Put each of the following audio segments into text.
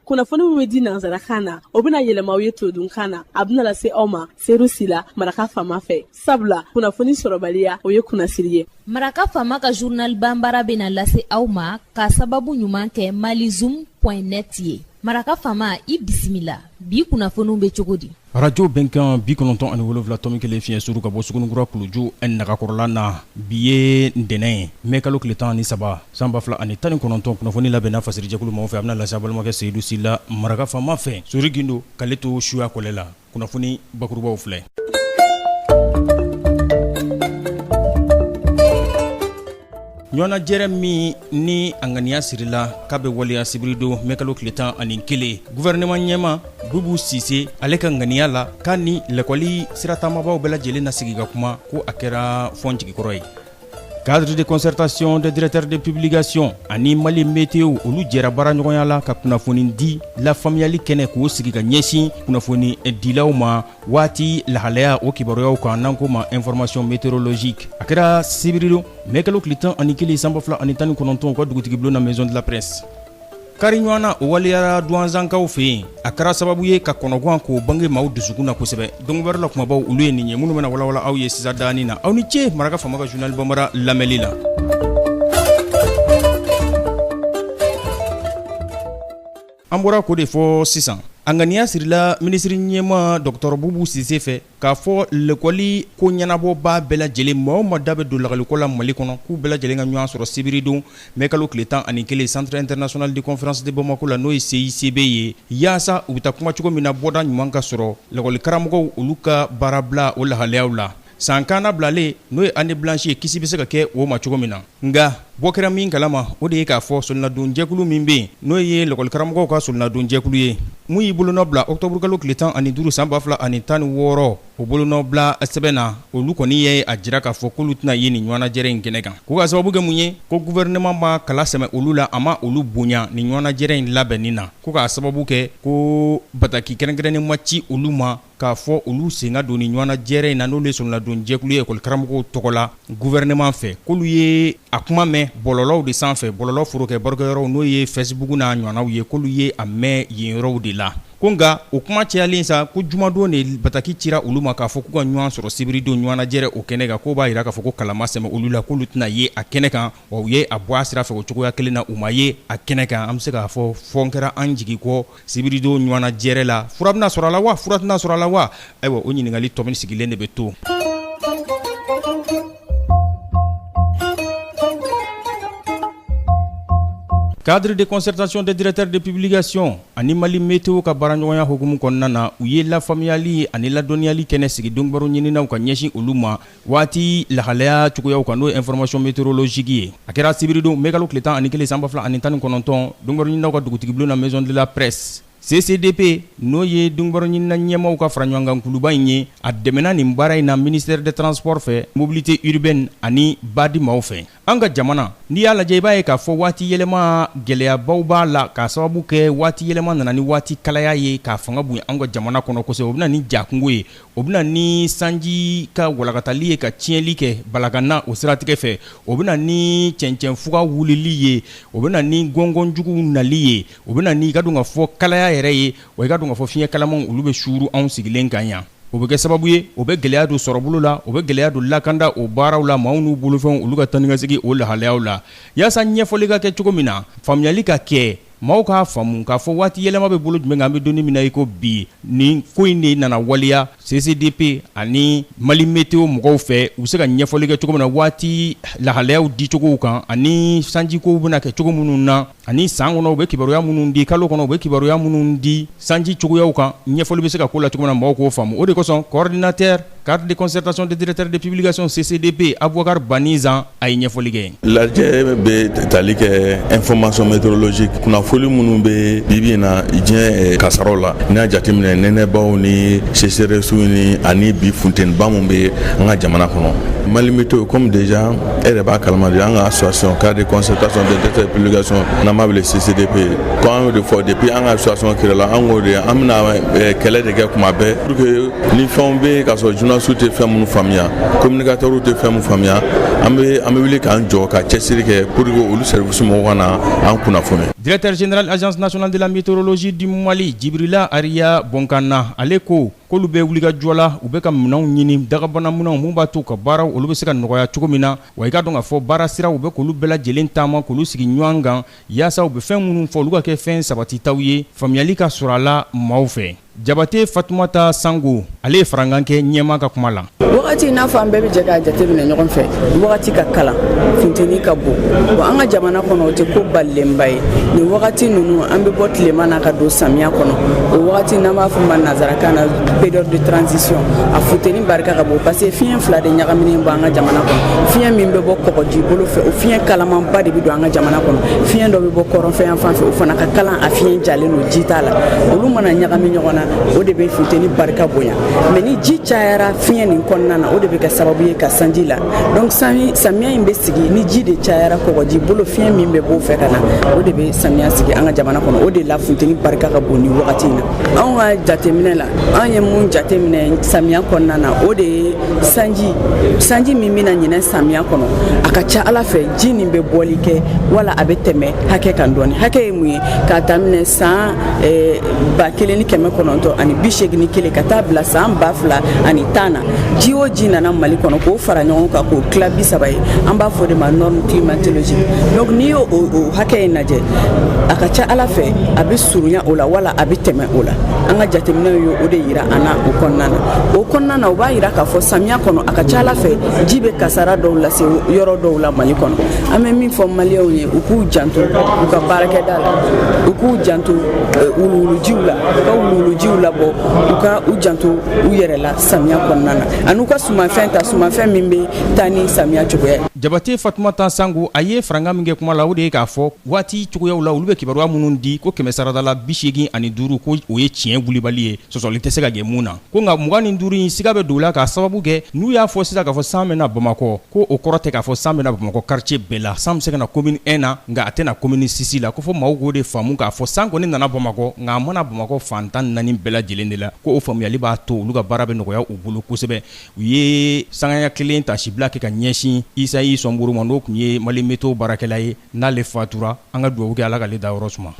kunnafoni min bɛ di nansarakan na o bɛna yɛlɛma aw ye todunkan na a bɛna lase aw ma seyidu sila maraka faama fɛ sabula kunnafoni sɔrɔbaliya o ye kunnasiri ye maraka faama ka journal banbara bɛna lase aw ma k'a sababu ɲuman kɛ malizoom.net ye maraka faama i bisimila bi kunnafoniw bɛ cogo di arajo bɛnkan bi kɔnɔntɔn ani wolonwula tɔmi kelen fiɲɛ suru ka bɔ sugunikura kuluju ani nagakɔrɔla na bi ye ntɛnɛn ye mɛ kalo tile tan ni saba san ba fila ani tan ni kɔnɔntɔn kunnafoni labɛnna fasirijɛkulu maaw fɛ a bɛna lase aw balimakɛ seyidu sila maraka faama fɛ sori gindo k'ale to suya kɔlɛ la kunnafoni bakurubaw filɛ ɲɔnajɛrɛ min ni a ŋaniya sirila k'a bɛ waleya sibiridon mɛkalo tile tan ani kelen guvɛrɛnɛman ɲɛmaa bubu sise ale ka ŋaniya la k'a ni lɛkɔli siratamabaaw bɛɛ lajɛlen na sigi ka kuma ko a kɛra fɔn jigikɔrɔ ye cadre de concertation des directeurs de publication ani mali meteo olu jɛra baara ɲɔgɔnya la ka kunnafoni di lafaamuyali kɛnɛ k'o sigi ka ɲɛsin kunnafoni dilaw ma waati lahalaya o kibaruyaw kan n'an ko ma information meteorologique a kɛra sibiridon mɛ kalo tile tan ani kelen san ba fila ani tan ni kɔnɔntɔn u ka dugutigibulon na maison de la presse kari ɲɔgɔn na o waleyara duwanzankaw fɛ yen a kɛra sababu ye ka kɔnɔguwan k'o bange maaw dusukun na kosɛbɛ dɔngobɛrɛ la kumabaw olu ye nin ye minnu bɛna walawala aw ye sisan daani na aw ni ce maraka faama ka journal banbara lamɛnli la An bɔra k'o de fɔ sisan a ŋaniya sirila minisiri ɲɛmaa dɔgɔtɔrɔ bubu sise fɛ k'a fɔ lɛkɔliko ɲɛnabɔbaa bɛɛ lajɛlen maa o maa da bɛ don lakɔliko la mali kɔnɔ k'u bɛɛ lajɛlen ka ɲɔgɔn sɔrɔ sibiridon mɛ kalo tile tan ani kelen centre international de conférence de bamako la n'o ye CICB ye yaasa u bɛ taa kuma cogo min na bɔda ɲuman ka sɔrɔ lakɔlikaramɔgɔw olu ka baarabila o lahalayaw la San kannabilalen n'o ye année blanche ye kisi bɛ se ka kɛ o ma cogo min na nka bɔ kɛra min kala ma o de ye k'a fɔ solonadon jɛkulu min bɛ yen n'o ye lɛkɔli karamɔgɔw ka solonadon jɛkulu ye min y'i bolonɔ bila ɔkutɔburukalo tile tan ani duuru san ba fila ani tan ni wɔɔrɔ o bolonɔ bila sɛbɛn na olu kɔni ye a jira k'a fɔ k'olu tɛna ye nin ɲɔgɔnnajɛrɛ in kɛnɛ kan ko k'a sababu kɛ mun ye ko guvɛrɛnɛman ma kala sɛmɛ olu la a ma olu bonya nin ɲɔgɔnnajɛrɛ in labɛnni na ko k'a sababu kɛ ko bataki kɛrɛnkɛrɛnnen ma ci olu ma k'a fɔ olu sen ka don nin ɲɔgɔnnajɛrɛ in na n'olu ye solonadon jɛkulu ye ekɔli karamɔgɔw tɔgɔ la guvɛrɛnɛman fɛ k'olu ye a kuma mɛn bɔlɔlɔw de sanfɛ bɔlɔlɔ forokɛ barokɛyɔrɔw n'o ye facebook n'a ɲɔgɔnnaw ye k'olu ye a mɛn yen yɔrɔw de la ko nka o kuma cayalen sa ko jumadon de bataki cira olu ma k'a fɔ k'u ka ɲɔgɔn sɔrɔ sibiridon ɲɔgɔnnajɛrɛ o kɛnɛ kan k'o b'a jira k'a fɔ ko kala ma sɛmɛ olu la k'olu tɛna ye a kɛnɛ kan wa u ye a bɔ a sira fɛ o cogoya kelen na u ma ye a kɛnɛ kan an bɛ se k'a fɔ fɔ kɛra an jigi kɔ sibiridon ɲɔgɔnnajɛrɛ la fura bɛna sɔrɔ a la wa fura tɛna sɔrɔ a la wa ayiwa o ɲininkali tomi sigilen de bɛ to cadre de concertation des directeurs de publication ani mali meteo ka baaraɲɔgɔnya hukumu kɔnɔna na u ye lafaamuyali ani ladɔnniyali kɛnɛ sigi donbaro ɲininaw ka ɲɛsin olu ma Waati lahalaya cogoyaw kan n'o ye information météorologique ye a kɛra sibiridon mɛkalo tile tan ani kelen san ba fila ani tan ni kɔnɔntɔn donbaro ɲininaw ka dugutigi bulon na maison de la presse CCDP n'o ye donbaro ɲinina ɲɛmaaw ka faraɲɔgɔnkan kuluba in ye a dɛmɛna nin baara in na ministère des transports fɛ mobilité urbaine ani BAD maaw fɛ An ka jamana n'i y'a lajɛ i b'a ye k'a fɔ waati yɛlɛma gɛlɛyabaw b'a la k'a sababu kɛ waati yɛlɛma nana ni waati kalaya ye k'a fanga bonya an ka jamana kɔnɔ kosɛbɛ o bɛ na ni ja kungo ye o bɛ na ni sanji ka walankatali ye ka tiɲɛli kɛ balakana o siratigɛ fɛ o bɛ na ni cɛncɛn fuga wulili ye o bɛ na ni gɔngɔnjugu nali ye o bɛ na n'i k'a dɔn k'a fɔ kalaya yɛrɛ ye wa i k'a dɔn k'a fɔ fiɲɛ kalamanw olu bɛ suuru anw sigilen kan yan o bɛ kɛ sababu ye o bɛ gɛlɛya don sɔrɔbolo la o bɛ gɛlɛya don lakanda o baaraw la maaw n'u bolofɛnw olu ka taa ni ka segin o lahalayaw la yaasa ɲɛfɔli ka kɛ cogo min na faamuyali ka kɛ maaw k'a faamu k'a fɔ waati yɛlɛma bɛ bolo jumɛn kan an bɛ don min na iko bi nin ko in de nana waleya CCDP ani mali meteo mɔgɔw fɛ u bɛ se ka ɲɛfɔli kɛ cogo min na waati lahalayaw dicogow kan ani sanjikow bɛna kɛ cogo minnu na ani san kɔnɔ u bɛ kibaruya minnu di kalo kɔnɔ u bɛ kibaruya minnu di sanji cogoyaw kan ɲɛfɔli bɛ se ka k'o la cogo min na mɔgɔw k'o faamu o de kosɔn coordinateur cadre de concertation des directeurs de publication CCDP abubakari bani zan a ye ɲɛfɔli kɛ lajɛ bɛ tali kɛ information météorologique kunnafoni minnu bɛ bibi in na diɲɛ kasaraw la n'i y'a jateminɛ nɛnɛbaw ni sécheresse ni ani bi funteniba min bɛ an ka jamana kɔnɔ mali meteo comme déjà e yɛrɛ b'a kalama de an ka association cadre de concertation des directeurs de publication n'an b'a wele CCDP ko an y'o de fɔ depuis an ka association créé la an k'o de an bɛna eh, kɛlɛ de kɛ kuma bɛɛ pour que ni fɛnw bɛ yen k'a sɔrɔ journalistew tɛ fɛn minnu faamuya communicateurw tɛ fɛn minnu faamuya an bɛ an bɛ wuli k'an jɔ ka cɛsiri kɛ pour que olu service mɔgɔw ka na an kunnafoni. directeur général agence nationale de la météorologie du mali jibrila ariya bonkana ale ko. k'olu bɛ wulikajɔ la u bɛ ka minɛnw ɲini dagabana minɛnw minnu b'a to ka baaraw olu bɛ se ka nɔgɔya cogo min na wa i k'a dɔn k'a fɔ baara siraw u bɛ k'olu bɛɛ lajɛlen taama k'olu sigi ɲɔgɔn kan yaasa u bɛ fɛn minnu fɔ olu ka kɛ fɛn sabatitaw ye faamuyali ka sɔrɔ a la maaw fɛ jabate fatumata sango ale ye farankan kɛ ɲɛmaa ka kuma la wagati i n'a fɔ an bɛɛ bɛ jɛ k'a jateminɛ ɲɔgɔn fɛ wagati ka kalan funteni ka bon wa an ka jamana kɔnɔ o tɛ ko balilenba ye nin wagati ninnu an bɛ bɔ tilema na ka don samiya kɔnɔ o wagati n'an b'a fɔ ma nazarakan na période de transition a funteni barika ka bon parce que fiɲɛ fila de ɲagaminen bɛ an ka jamana kɔnɔ fiɲɛ min bɛ bɔ kɔgɔji bolo fɛ o fiɲɛ kalamanba de bɛ don an ka jamana kɔnɔ fiɲɛ dɔ bɛ bɔ kɔrɔnfɛ yan fan fɛ o fana ka kalan a fiɲɛ jalen don ji t'a la olu mana ɲagami ɲɔgɔn na o de bɛ funteni barika bonya mais ni ji cayara fiɲɛ nin kɔnɔna na o de bɛ kɛ sababu ye ka sanji la donc samiya in bɛ sigi ni ji de cayara kɔgɔji bolo fiɲɛ min bɛ b'o fɛ ka na o de bɛ samiya sigi an ka jamana kɔnɔ o de la funteni barika ka bon nin wagati in na anw ka jateminɛ la an ye mun jateminɛ samiya kɔnɔna na o de ye sanji sanji min bɛna ɲinɛ samiya kɔnɔ a ka ca ala fɛ ji nin bɛ bɔli kɛ wala a bɛ tɛmɛ hakɛ kan dɔɔni hakɛ ye mun ye k'a daminɛ san eh, ba kelen ni kɛmɛ kɔnɔntɔn ani bi seegin ni kelen ka taa bila san ba fila ani tan na ji o ji nana mali kɔnɔ k'o fara ɲɔgɔn kan k'o tila bi saba ye an b'a f'o de ma norme climatologique donc n'i y'o hakɛ in lajɛ a ka ca ala fɛ a bɛ surunya o la wala a bɛ tɛmɛ o la an ka jateminɛw ye o de yira an na o kɔnɔna na o kɔnɔna na o b'a yira k'a fɔ samiya kɔnɔ a ka ca ala fɛ ji bɛ kasara dɔw lase yɔrɔ dɔw la mali kɔnɔ an bɛ min fɔ maliyɛnw ye u k'u janto u ka baarakɛda la u k'u janto eh, wuluwulujiw la u ka wuluwulujiw labɔ u ka u janto u yɛrɛ la samiya kɔnɔna na an'u ka sumafɛn ta sumafɛn min bɛ taa ni samiya cogoya ye jabate fatumata sango a ye farankan min kɛ kuma la o de ye k'a fɔ waati cogoyaw la olu bɛ kibaruya minnu di ko kɛmɛ sarada la bi seegin ani duuru ko o ye tiɲɛ wulibali ye sɔsɔli tɛ se ka kɛ mun na ko nka mugan ni duuru in siga bɛ don la k'a sababu kɛ n'u y'a fɔ sisan k'a fɔ san bɛna bamakɔ ko o kɔrɔ tɛ k'a fɔ san bɛna bamakɔ karitiye bɛɛ la san bɛ se ka na komini ɛn na nka a tɛna na komini sisi la ko fo maaw k'o de faamu k'a fɔ san kɔni nana bamakɔ nka a ma na bamakɔ fan tan ni naani bɛɛ lajɛlen de la ko o faamuyali b'a to olu ka baara bɛ nɔgɔya u bolo kosɛbɛ u ye sangaya kelen taasibila kɛ ka ɲɛsin isayi sɔnboro ma n'o tun ye mali météo baarakɛla ye n'ale fatura an ka dugawu kɛ ala k'ale dayɔrɔ suma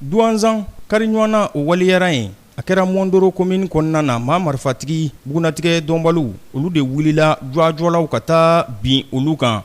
duwanzan kariɲɔgɔn na o waleyara yen a kɛra mɔndoro komini kɔnɔna na maa marifatigi bugunnatigɛ dɔnbaliw olu de wulila jɔajɔlaw ka taa bin olu kan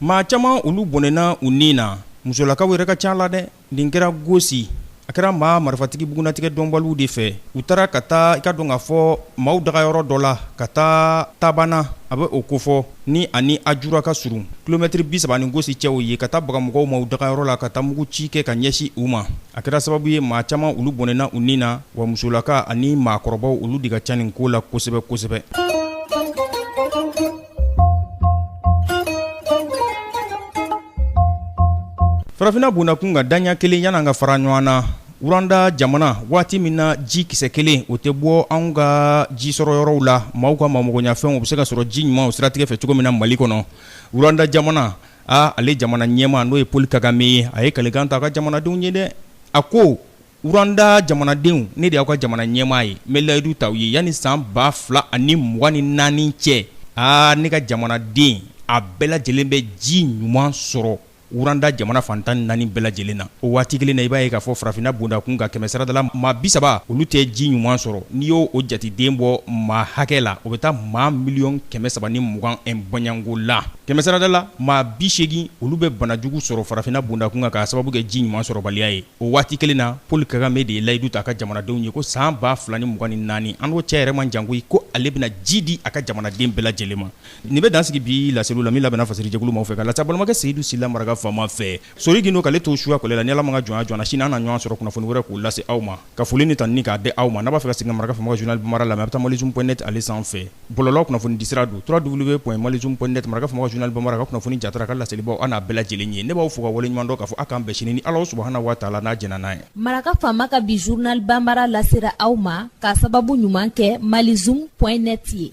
Maa caman olu bɔnɛna u ni na musolakaw yɛrɛ ka ca la dɛ nin kɛra gosi a kɛra maa marifatigi bugunnatigɛ dɔnbaliw de fɛ u taara ka taa i k'a dɔn k'a fɔ maaw dagayɔrɔ dɔ la ka taa tabana a bɛ o kofɔ ni ani ajura ka surun kilomɛtiri bi saba ni gosi cɛ o ye ka taa baga mɔgɔw ma u dagayɔrɔ la ka taa mugu ci kɛ ka ɲɛsin u ma a kɛra sababu ye maa caman olu bɔnɛna u ni na Wa musolaka ani maakɔrɔbaw olu de ka ca nin ko la kosɛbɛ kosɛbɛ. Farafinna bondakun kan daɲɛ kelen yan'an ka fara ɲɔgɔn na Rwanda jamana waati min na ji kisɛ kelen o tɛ bɔ anw ka ji sɔrɔ yɔrɔw la maaw ka maa magoɲafɛnw u bɛ se ka sɔrɔ ji ɲuman o siratigɛ fɛ cogo min na Mali kɔnɔ Rwanda jamana aa ale jamana ɲɛmaa n'o ye Paul Kagame ye a ye kalikan ta a ka jamanadenw ye dɛ a ko Rwanda jamanadenw ne de y'aw ka jamana ɲɛmaa ye n bɛ layidu ta aw ye yanni san ba fila ani mugan ni naani cɛ aa ne ka jamanaden a bɛɛ lajɛlen bɛ ji ɲuman sɔrɔ Rwanda jamana fan tan ni naani bɛɛ lajɛlen na o waati kelen na i b'a ye k'a fɔ farafinna bondakun kan kɛmɛsarada la maa bi saba olu tɛ ji ɲuman sɔrɔ n'i y'o jateden bɔ maa hakɛ la o bɛ taa maa miliyɔn kɛmɛ saba ni mugan bɔɲɔgɔnko la kɛmɛsarada la maa bi seegin olu bɛ banajugu sɔrɔ farafinna bondakun kan k'a sababu kɛ ji ɲuman sɔrɔbaliya ye O waati kelen na Paul Kagame de ye layidu ta a ka jamanadenw ye ko san ba fila ni mugan ni naani an n'o cɛ yɛrɛ man jan koyi ko ale bɛna ji di a ka jamanaden bɛɛ lajɛlen ma nin bɛ dan sigi bi laseli la min labɛnna fasiri jɛkulu maaw fɛ k'a lase aw balimakɛ Seyidu Sila maraka faama fɛ Sori Gindo k'ale to suka ale la ni Ala ma ka jɔn jɔna sini an na ɲɔgɔn sɔrɔ kunnafoni wɛrɛ k'u lase aw ma ka foli ni tanuni k'a di aw ma n'a b'a fɛ ka segin maraka faama ka journal bambara lamɛn a bɛ taa malizoom point net ale sanfɛ Bɔlɔ kunnafoni dira don tura dugu bɛ tun mali jun kɔn netɛ ka kuma jun bamanan ka kunnafoni kunnafoni jara ka laselibaw an n'a bɛɛ lajɛlen ye ne b'aw fɔ ka wale ɲɔgɔn k'a aw kanan bɛsiri ni ala suhauna waa la n'a j n'a ye maraka faama ka bi zuruninali banraya lasera aw ma ka sababu ɲuman kɛ mali z kɔn neti ye